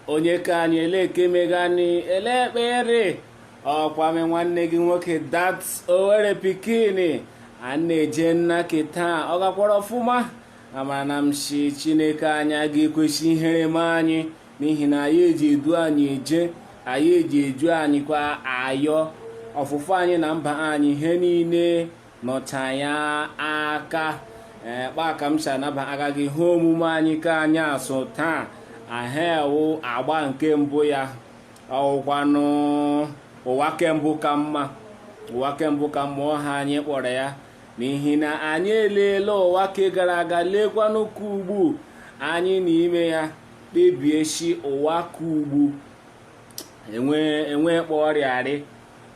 onye ka anyị elee ke mega ni elee kpa ị rị ọ kwa m nwanne gị nwoke Dat Owerri Pikin a na-eje nna ke taa ọ gakwara ọfụma amara na m si chineke anyị aga ekwe sị ihere mee anyị n'ihi na anyị eji edu anyị eje anyị eji edu anyị kwa ayọ ọfụfụ anyị na mba anyị ihe niile nọcha ya aka ee kpa a ka m si anabaga gị ihe omume anyị ka anyị asụ taa ahụ wụ agba nke mbụ ya ọ wụkwanụ ụwa ke mbụ ka mma ụwa ke mbụ ka mma ọ ihe anyị kpọrọ ya n'ihi na anyị eleela ụwa ke gara aga leekwanụ ke ugbu a anyị n'ime ya kpebie si ụwa ke ugbu enwe enwe kpọrịarị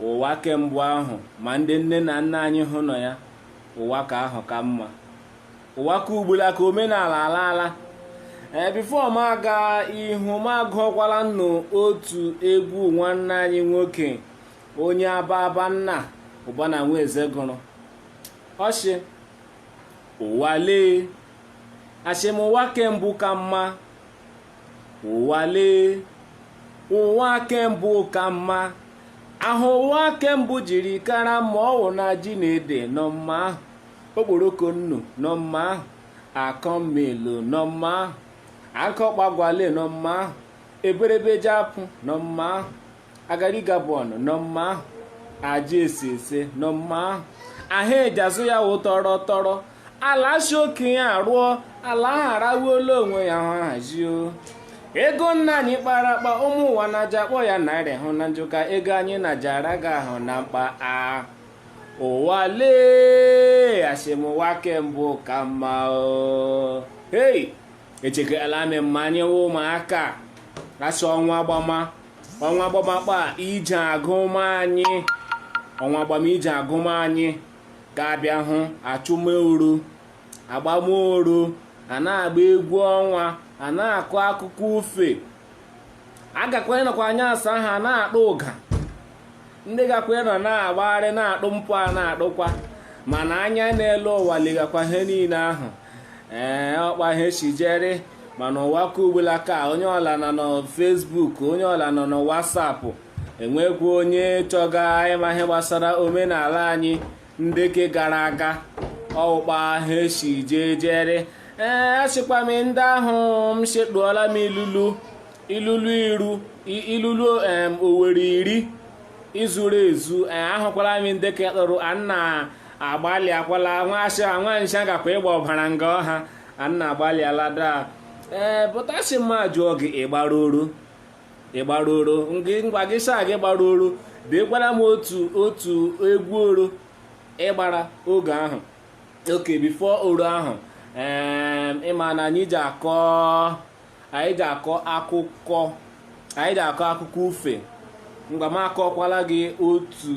Ụwa ke mbụ ahụ ma ndị nne na nna anyị hụ nọ ya, ụwa ke ahụ ka mma. Ụwa ke ugbula ka omenala alaala. Ee, before m aga ihu m agụọkwala ụnụ otu egwu nwanne anyị nwoke onye Ababanna Ụbana Nwaeze gụrụ. Ọ shị ụwa lee ashị m ụwa ke mbụ ka mma ụwa lee ụwa ke mbụ ka mma ahụ ụwa ke mbụ jiri kara mma ọ wụ na ji na ede nọ mma ahụ okporoko nnu nọ mma ahụ akọmmelu nọ mma ahụ akọkpagwale nọ mma ahụ eberebe jiapụ nọ mma ahụ garri Gabon nọ mma ahụ aja esi ese nọ mma ahụ ihe e ji azụ ya wụ toro toro ala si okenye arụọ ala ahụ arawuola onwe ya hụ hazio ego nna anyị kpara akpa ụmụ ụwa na-aja akpọ ya naira hụ na njụ ka ego anyị na-aja ara gị ahụ na mkpa a ụwa lee asị m ụwa ke mbụ ka mma o hei echekala m mma anyị wụ ụmụaka asị ọnwa gbama ọnwa agbama kpa ije agụma anyị ọnwa agbama ije agụma anyị ga-abịa hụ achụma oro agbama oro a na-agba egwu ọnwa a na-akọ akụkọ ufe a gakwa anọkwa anyasị ahụ a na-akpa ụga ndị gakwa ịnọ na-agbagharị na-akpụ mpụ a na-akpụkwa mana anya na-ele ụwa legakwa ihe niile ahụ ee ọ kpa ihe si jere mana ụwa ke ugbula ka onye ọla nọ na Facebook onye ọla nọ na WhatsApp enwekwa onye chọga ịma ihe gbasara omenala anyị ndị ke gara aga ọ wụ kpa ihe si jee jere ee asịkwa m ndị ahụ m sekpuola m ilulu ilulu iru ilulu em owere iri izuru ezu ee ahụkwala m ndị ka ịkpụrụ anna agbalị akwala nwaasị nwa nsha gakwa ịgba ọbara nga ọha anna agbalị alada ee pụtasị mma jụọ gị ị gbara oro ị gbara oro ngị ngwa gị saa gị gbara oro deekwara m otu otu egwu oro ị gbara oge ahụ okay before oro ahụ ee ịma na anyị ji akọ anyị ga-akọ akụkọ anyị ga-akọ akụkọ ufe mgbe m akọkwala gị otu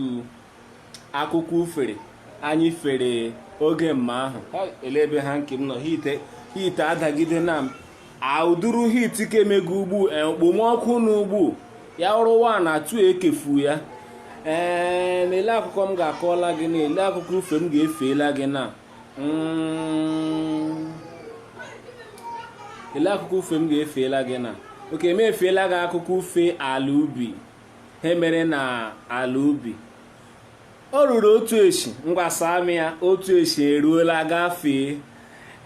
akụkọ ufere anyị fere oge mma ahụ ele ebe ha nke m nọ heat heat adagide na m aụduru heat ka emego ugbu e, okpomọkụ na ugbu ya ọrụ wa na atu ekefu ya ee na ele akụkọ m ga-akọla gị na ele akụkọ ufe m ga-efeela gị na Mm. ele akụkọ ufe m ga-efeela gị na oke m efeela gị akụkọ ufe ala ubi he mere na ala ubi ọ ruru otu eshi ngwasa amị ya otu eshi eruola gafee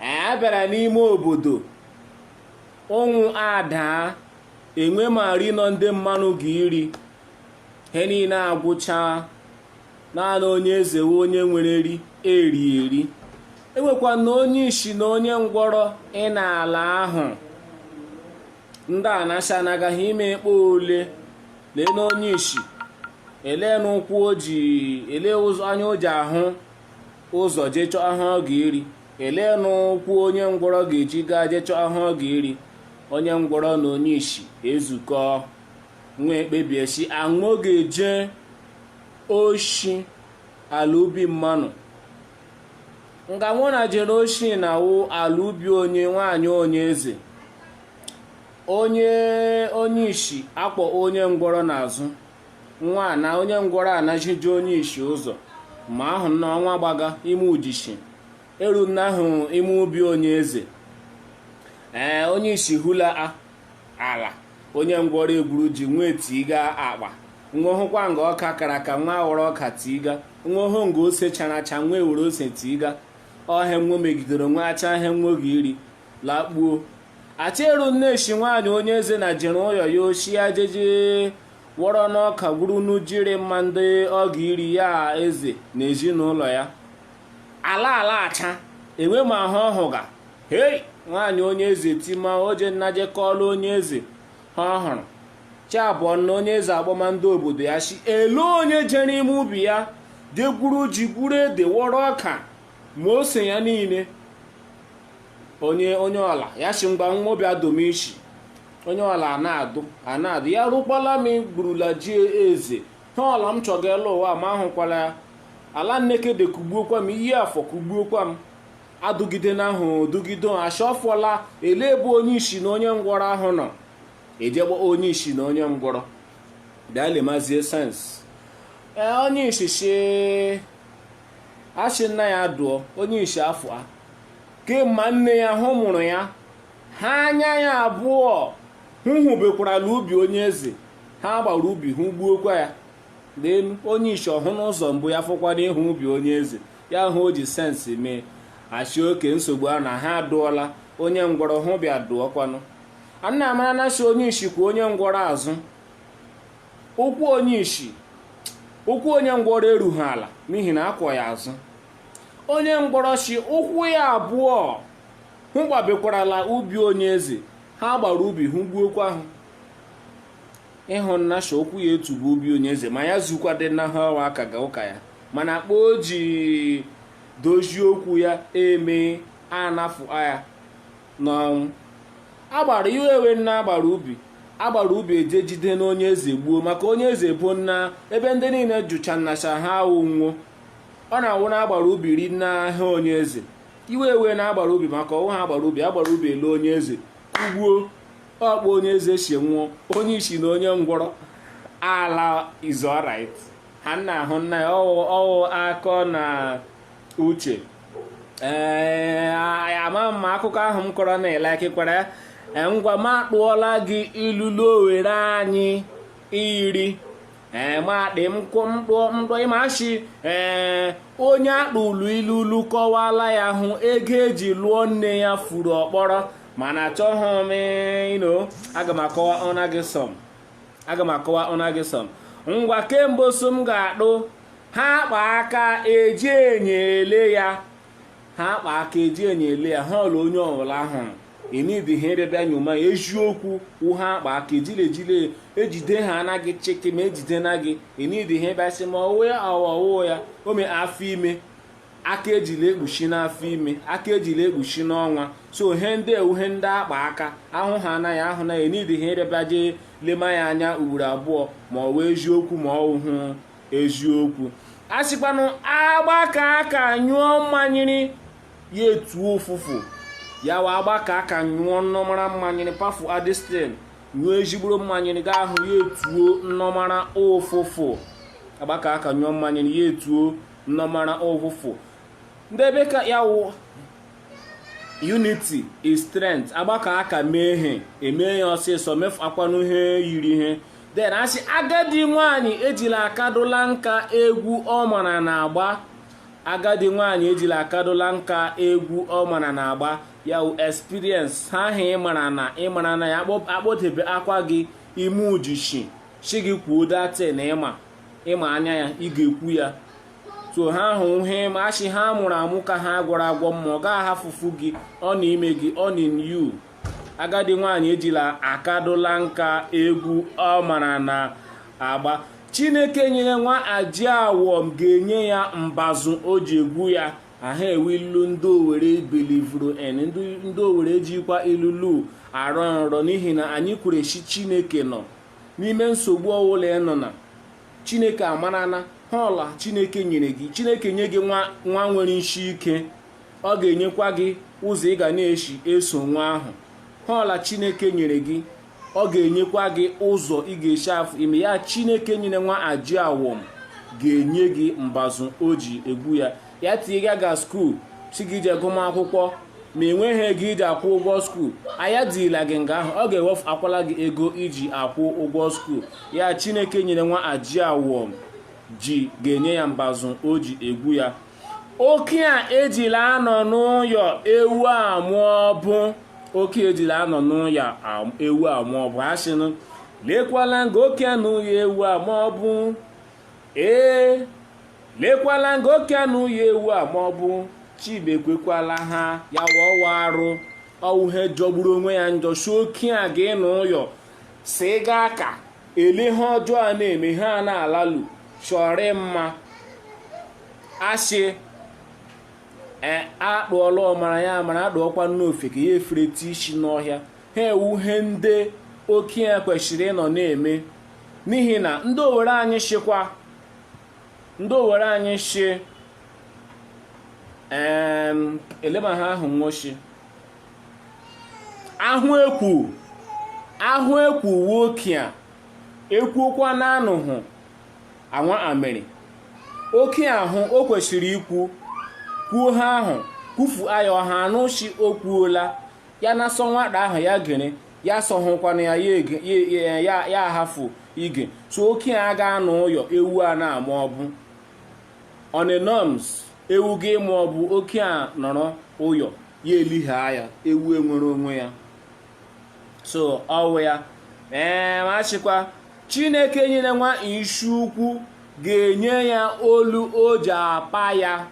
a bịara n'ime obodo ụnwụ adaa enwe ma ri nọ ndị mmanụ ga iri he niile agwụchaa naanị onye eze wụ onye nwere eri eri eri enwekwa na onye ishi na onye ngwọrọ ị na-ala ahụ ndị a na-asị anagaghị ime kpa ole lee na onye ishi elee na ụkwụ o ji elee ụzọ anya o ji ahụ ụzọ jee chọọ he ọ ga-eri elee na ụkwụ onye ngwọrọ ga-eji gaa jee chọọ he ọ ga-eri onye ngwọrọ na onye ishi ezukọọ nwa ekpebie sị aṅụ ga-eje oshi ala ubi mmanụ nga nwụ na jere oshi na wụ ala ubi onye nwaanyị onye eze onye onye ishi akpọ onye ngwọrọ n'azụ nwa na onye ngwọrọ anazije onye ishi ụzọ ma ahụ na ọnwa gbaga ime ujishi eru na ahụ ime ubi onye eze ee onye ishi ehula a ala onye ngwọrọ egwuru ji nwa etiga akpa nwa hụkwa nga ọka kara aka nwa aghọrọ ọka tiga nwa hụ nga ose chara acha nwa ewere ose tiga ọ he nwa megidere nwa acha he nwa ga iri lakpuo acheru na eshi nwaanyị onye eze na jere ụyọ ya oshi ya jeje wọrọnụ ọka gwurunụ ji iri mma ndị ọ ga iri ya eze na ezinụlọ ya ala alaghacha enwe ma ahụ ọ hụga hei nwaanyị onye eze tima oje nnaje kọọlụ onye eze ha ọhụrụ chi abọọna onye eze akpọma ndị obodo ya shị ele onye jere ime ubi ya je gwuru ji gwuru ede wọrọ ọka ma ose ya niile onye onye ọla ya shị ngwa nwa bịa dụma ishi onye ọla a na-adụ a na-adụ ya rụkwala m gburula ji eze ha ọla m chọga elu ụwa ma ahụkwala ya ala Nekede kugbuokwa m iyi afọ kugbuokwa m adụgide na ahụ dụgide achọfụla ele ebe onye ishi na onye ngwọrọ ahụ nọ ejegba onye ishi na onye ngwọrọ bịa lemazie sense ee onye ishi ashị nna ya dụọ onye ishi afọ a kemma nne ya hụ mụrụ ya ha anya ya abụọ hụ hụbekwarala ubi onye eze ha agbara ubi hụ gbuokwa ya n'elu onye ishi ọ hụna ụzọ mbụ ya fọkwana ịhụ ubi onye eze ya hụ o ji sense mee ashị oke nsogbu a na ha adụọla onye ngwọrọ hụ bịa dụọkwanụ anna amara na shị onye ishi kwọ onye ngwọrọ azụ ụkwụ onye ishi ụkwụ onye ngwọrọ erughị ala n'ihi na a kwọ ya azụ onye ngwọrọ shị ụkwụ ya abụọ hụ gbabekwarala ubi onye eze ha agbara ubi hụ gbuokwa ahụ ịhụ nna shị ụkwụ ya etubu ubi onye eze ma ya zukwa dị na ha ọwa aka ga ụka ya mana kpa o ji dozie okwu ya eme anafụ ya n'ọnwụ agbara iwe ewe nna agbara ubi agbara ubi eje jide na onye eze gbuo maka onye eze bụ nna ebe ndị niile jụcha nna shị ha awụ wo ọ na-awụ na agbara ubi ri nna ha onye eze iwe ewe na agbara ubi maka ọwụ ha agbara ubi agbara ubi ele onye eze kugbuo ọ kpa onye eze si nwụọ onye isi na onye ngwọrọ ala is alright ha nna ahụ nna ya ọwụ akọ na uche ee ama m akụkọ ahụ m kọrọ na elekịkwara ya e, ngwa m atụọla gị ilulu Owere anyị iri ee ma dị m tụọ m tụọ ị ma shị ee onye a tụụlụ ilulu kọwala ya hụ ego e ji lụọ nne ya furu ọkpọrọ mana achọghị m ịnụ aga m akọwa ọna gị some aga m akọwa ọna gị some ngwa ke mbụ so m ga-atụ ha akpa aka eji enye ele ya ha akpa aka eji enye ele ya ha ọla onye ọbụla a hụrụ enidi ha ịbịabịa nyoma ya eziokwu wụ ha akpa aka ejile ejile ejide ha anaghị chịkị ma ejide na gị enidi ha ịbịasị ma ọwụ ya ọwụwa ya o mee afọ ime aka ejila ekpuchi n'afọ ime aka ejila ekpuchi n'ọnwa so ihe ndị a wụ ihe ndị akpa aka ahụ ha anaghị ahụ na ya needi ha ị bịa bịa jee lema ya anya ugboro abụọ ma ọ wụ eziokwu ma ọ hụ eziokwu a sịkwanụ agbakọ aka nyụọ mmanyịrị ya etuo ụfụfụ ya wụ agbakọ aka nyụọ nnọmara mmanyịrị pafu adistin nyụọ ezigboro mmanyịrị ga ahụ ya etuo nnọmara ụfụfụ agbakọ aka nyụọ mmanyịrị ya etuo nnọmara ụfụfụ ndị bekee ya wụ unity is strength agbakọ aka mee ihe eme ya ọsịsọ mefuakwanụ ihe yiri ihe then a sị agadi nwanyị ejila akadụla nka egwu ọ mara na agba agadi nwanyị ejila akadụla nka egwu ọ mara na agba ya wụ experience ihe ahụ ịmara na ịmara na ya akpọtebekwa gị ime uchichi shi gị kwuo that thing ịma ịma anya ya ị ga-ekwu ya so ihe ahụ ihe ma a sị ihe a mụrụ amụ ka ihe a gwọrọ agwọ mma ọ gaghị afụfụ gị ọ nọ ime gị ọ na yu agadi nwaanyị ejila akadụla nka egwu ọ mara na agba chineke nyere nwa ji awọm ga-enye ya mbazụ o ji egwu ya aha a wụ ilu ndị owere believuru and ndị owere jikwa ilulu arọ nrọ n'ihi na anyị kwere sị chineke nọ n'ime nsogbu ọwụla ị nọ na chineke amarana ihe ọwụla chineke nyere gị chineke nye gị nwa nwa nwere isi ike ọ ga-enyekwa gị ụzọ ị ga na-esi eso nwa ahụ ihe ọwụla chineke nyere gị ọ ga-enyekwa gị ụzọ ị ga-esi afụ ime ya chineke nyere nwa ji awọm ga-enye gị mbazụ o ji egwu ya ya tinye gị nga skuul sị gị jee gụma akwụkwọ ma ị nweghị ego iji akwụ ụgwọ skuul ya tiila gị nga ahụ ọ ga-ewefuakwala gị ego iji akwụ ụgwọ skuul ya chineke nyere nwa ji awọm ji ga-enye ya mbazụ o ji egwu ya okenye ejila anọ n'ụyọ ewu amụọ ọbụ okenye ejila anọ n'ụyọ ewu amụọ ọbụ a sịnụ lekwala nga okenye nọ ụyọ ewu amụọ ọbụ ee Lekwala nga okenye nọ ụyọ ewu amụọ ọbụ sị mekwekwala ihe a ya wụ ọ wụ arụ ọ wụ ihe jọgburu onwe ya njọ sị okenye ga-anọ ụyọ si ga aka ele ihe ọjọọ a na-eme ihe a na-alalu chọrị mma asị ee atụọla ọmara ya mara atụọkwana ofeke ya efereta isi n'ọhịa ihe a wụ ihe ndị okenye kwesịrị ịnọ na-eme n'ihi na ndị owere anyị sịkwa ndị owere anyị shi eleba ha ahụ nwoshi ahụ ekwu ahụ ekwu nwoke a ekwuokwa na anụhụ anwa amịrị oke ahụ o kwesịrị ikwu kwuo ha ahụ kwufu ayọ ha anụ shi o kwuola ya na sọ nwata ahụ ya gịnị ya sọhụkwana ya ya ege- ya- ya- ya- ya ahafụ ige so okenye aga anọ ụyọ ewu a na-ama ọgbụ on a norms ewu ga-ịma ọgbụ okenye nọrọ ụyọ ya eliha ya ewu enwere onwe ya so ọwụ ya ee ma shikwa chineke nyere nwa isi ukwu ga-enye ya olu o ji apa ya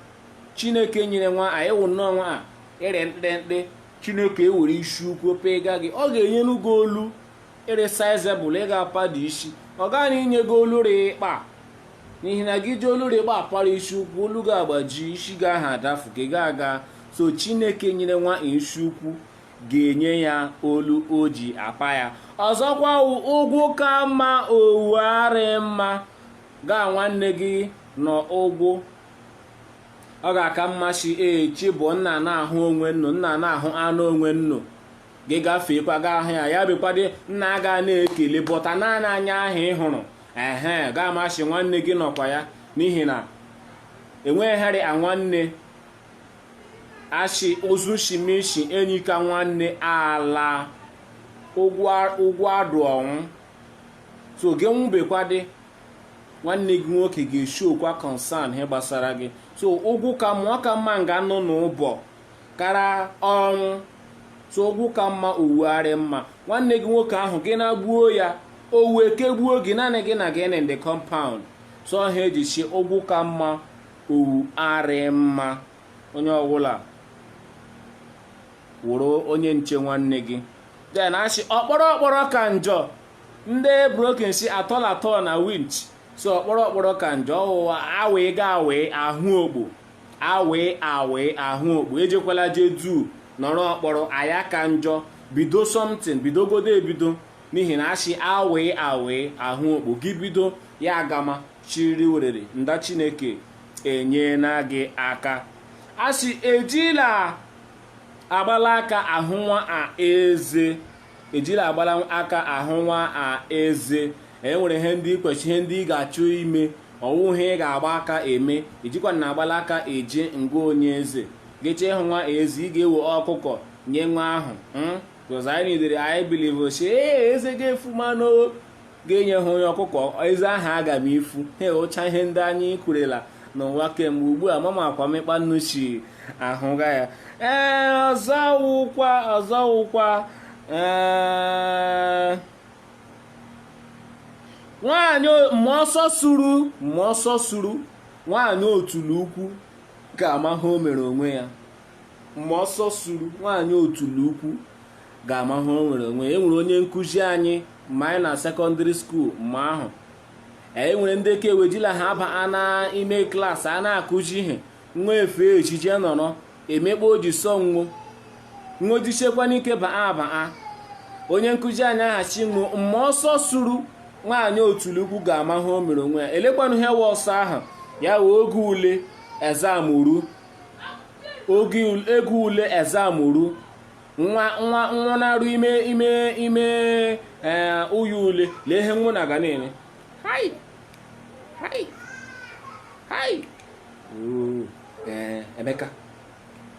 chineke nyere nwa anyị wụ nnọọ nwa a ịrị mkpịrịmkpị chineke ewere isi ukwu pịga gị ọ ga-enyeru gị olu rị sizable ị ga-apado isi ọ gaghị inye gị olu rị ikpa n'ihi na gị ji olu rị ikpa apara isi ukwu olu gị agbaji isi gị ahụ adafu gị ga aga so chineke nyere nwa isi ukwu ga-enye ya olu o ji apa ya ọzọkwa wụ ụgwụ ka mma ọwụ arị mma gaa nwanne gị nọ ụgwụ ọ ga-aka mma si echi bụ nnu ana-ahụ onwe nnu nnu ana-ahụ anya onwe nnu gị gafeekwa gaa ahụ ya ya bịakwadị nnu aga na-ekele but naanị anya ahụ ị hụrụ ihe ga-amasị nwanne gị nọkwa ya n'ihi na enweghị ihe rị a nwanne a shi ozu shime ishi enyi ka nwanne alaa ụgwọ adụ ọnwụ so gị nwụbekwadị nwanne gị nwoke ga-eshi okwa concern ihe gbasara gị so ụgwụ ka mma ọ ka mma nga nọ n'ụbọ kara ọnwụ so ụgwụ ka mma ọwụ arị mma nwanne gị nwoke ahụ gị na-gbuo ya owu ekegbuo gị naanị gị na gịnị ndị compound so ihe e ji shi ụgwụ ka mma ọwụ arị mma onye ọbụla wụrụ onye nche nwanne gị then a shi ọkpọrọ ọkpọrọ ka njọ ndị broken si at all at all na winch so ọkpọrọ ọkpọrọ ka njọ ọwụwa awee ga awee ahụ ogbo awee awee ahụ ogbo ejekwala jee duu nọrọ ọkpọrọ aya ka njọ bido something bidogodo ebido n'ihi na asị awee awee ahụ ogbo gị bido ya agama chiri werere nda chineke enyela gị aka asị ejila agbala aka ahụ nwa a eze ejila agbara aka ahụ nwa a eze e nwere ihe ndị ị kweshị ihe ndị ị ga-achọ ime ọwụ ihe ị ga-agba aka eme ejikwa na agbara aka eje nga onye eze gị chọọ ịhụ nwa eze ị ga-ewe ọkụkọ nye nwa ahụ hmm? because anyị nidere anyị believe shi ee eze ga-efu manụ ga-enye ha onye ọkụkọ eze aha aga m ifu ha ụcha ihe ndị anyị kwurela n'ụwa kemgbe ugbu a mama akwa mịkpa nnu si ahụga ya ee ọzọ wụkwa ọzọ wụkwa ee nwaanyị mma ọsọ suru mma ọsọ suru nwaanyị otula ukwu ga-ama ihe o mere onwe ya mma ọsọ suru nwaanyị otula ukwu ga-ama ihe o mere onwe ya e nwere onye nkụzi anyị mma anyị nọ sekọndịrị skuul mma ahụ e nwere ndị ka ewejila ha aba a na ime klaasị a na-akụzi ihe nwa efe ejije nọrọ emekpa o ji sọ nwo nwo jisikwanụ ike baa abaa onye nkụzi anyị ahụ shi nwo mma ọsọ suru nwaanyị otula ukwu ga-ama ihe o mere onwe ya lekwanụ ihe wụ ọsọ ahụ ya wụ oge ule exam ruo oge ule exam ru nwa nwa nwa na-eru ime ime ime ee ụyọ ule lee ihe nwa na ga na-eme hai hai hai Oo, ee emeka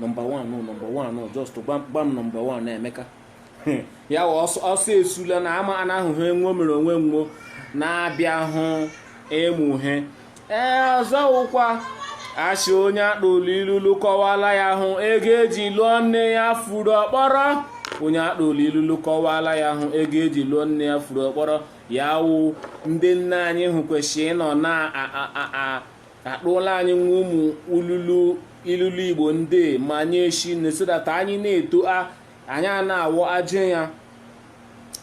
nọmba 1 nọmba 1 just gwa gwa m nọmba 1 emeka ya ọsọ esula na mma a na-ahụ ihe nwo mere onwe nwo na-abịahụ ịmụ ihe ee ọzọ wụkwa a shị onye a tụụlụ ilulu kọwala ya hụ ego eji lụọ nne ya furu ọkpọrọ onye a tụụlụ ilulu kọwala ya hụ ego eji lụọ nne ya furu ọkpọrọ ya wụ ndị nna anyị ha kwesịrị ịnọ na-atụla anyị wụ ụmụ ululu ilulu igbo ndị ma nye eshi na so that anyị na-eto a anyị a na-awọ ajị ya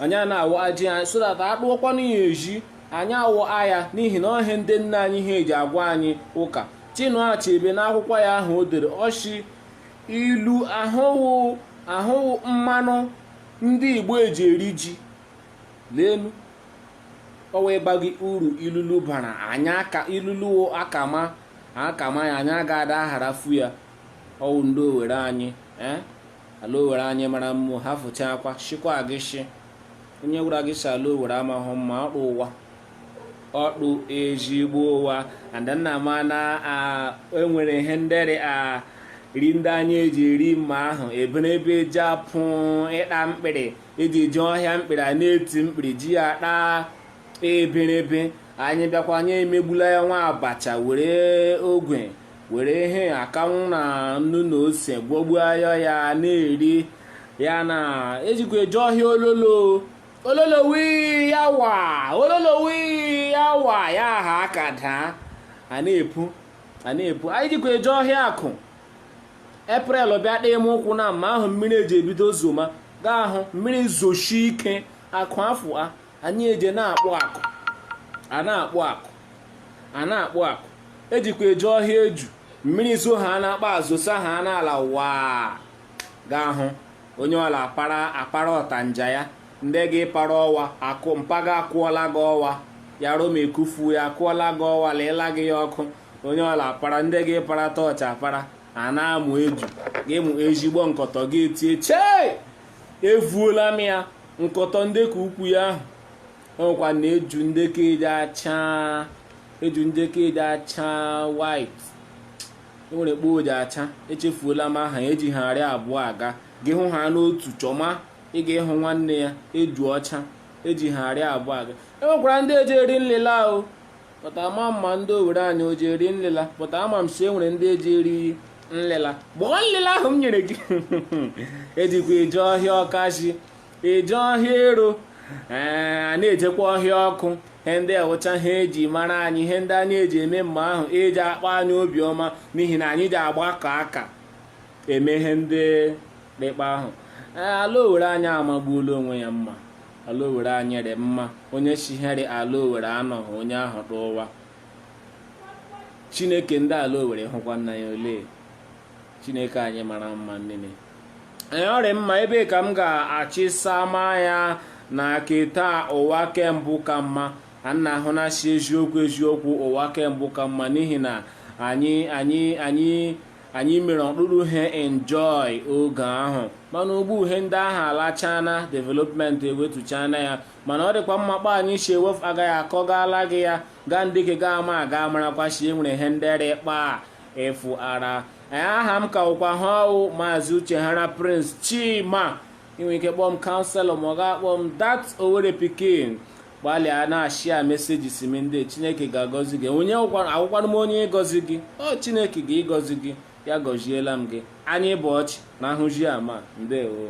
anyị a na-awọ ajị ya so that a tụọkwanụ ya ezi anyị awọọ ya n'ihi na ọ ihe ndị nna anyị ha eji agwa anyị ụka Chinua Achebe n'akwụkwọ ya ahụ o dere ọ shị ilu ahụ wụ ahụ wụ mmanụ ndị Igbo eji eri ji leenu ọ wụ ịgwa gị uru ilulu bara anyị aka ilulu akama akama ya anyị aga ada agharafu ya ọ wụ ndị Owere anyị ee ala Owere anyị mara mma ha fụcha akwa shikwa gị shi onye gwara gị si ala Owere amahụ mma ọ tụ ụwa ọ tụ ezigbo ụwa and nna ma na enwere ihe ndị ri ri ndị anyị eji eri mma ahụ eberebe jiapụ ịta mkpịrị eji eje ọhịa mkpịrị a na-eti mkpịrị ji ya taa eberebe anyị bịakwa anyị emegbula ya wụ abacha were ogwe were ihe akanwụ na nnu na ose gwọgbuo ayọ ya na-eri ya na ejikwa eje ọhịa ololo ololo wii ya wa ololo wii ya wa ya aha aka daa a na-epu a na-epu anyị jikwa eje ọhịa akụ April bịa dị m ụkwụ na mma ahụ mmiri eji ebido zoma gaa ahụ mmiri zosie ike akụ afụa anyị eje na-akpụ akụ a na-akpụ akụ a na-akpụ akụ ejikwa eje ọhịa eju mmiri zoo ha na-akpa azosa ha n'ala waa ga-ahụ onye ọla akpara akpara ọtanja ya ndị gị para ọwa akụ mpaga akụọla gị ọwa ya roma ekufu ya akụọla gị ọwa leela gị ya ọkụ onye ọla akpara ndị gị para tọọchị akpara a na-amụ eju gị mụ ezigbo nkọtọ gị etie chee evuola m ya nkọtọ nde ke ukwu ya ahụ o nwekwara eju nde ke eji acha eju nde ke eji acha white enwere kpa o ji acha echefuola m aha ya eji ha arị abụọ aga gị hụ ha n'otu chọma ị ga-ịhụ nwanne ya eju ọcha eji ha arị abụọ aga enwekwara ndị eji eri nlịla ahụ pụta ama ma ndị owere anyị o ji eri nlịla pụta ama m si e nwere ndị eji eri nlịla gbọọ nlịla ahụ m nyere gị ejikwa eje ọhịa ọkazị eje ọhịa ero ee a na-ejekwa ọhịa ọkụ ihe ndị a wụcha he eji mara anyị ihe ndị anyị eji eme mma ahụ eji akpa anyị obiọma n'ihi na anyị ji agbakọ aka eme ihe ndị dị kpa ahụ ala owere anyị amagbuola onwe ya mma ala owere anyị rị mma onye shiheri ala owere anọghị onye ahụ n'ụwa chineke ndị ala owere hụkwa nna ya ole chineke anyị mara mma nile ee ọ rị mma ebe a ka m ga-achịsa mmanya na ke taa ụwa ke mbụ ka mma ka m na-ahụ na si eziokwu eziokwu ụwa ke mbụ ka mma n'ihi na anyị anyị anyị anyị mere ọkpụrụ he enjoy oge ahụ mana ugbu he ndị ahụ alachana development ewetuchana ya mana ọ dịkwa mma kpa anyị si ewefu aga ha akọgala gị ya gaa ndị ke ga ama aga amarakwa si enwere ihe ndị rị kpa a efuara anyị aha m ka wụkwa he ọ wụ maazị uche hara prince chima i nwe ike kpọọ m counsellor ma ọ ga-akpọ m dat owere pikin gbalịa na-share messages m ndị chineke ga-agọzi gị onye awụkwanụ m onye ịgọzi gị ọ chineke ga ịgọzi gị ya gọziela m gị anyị bụ ọchị na ahụji ama ndewo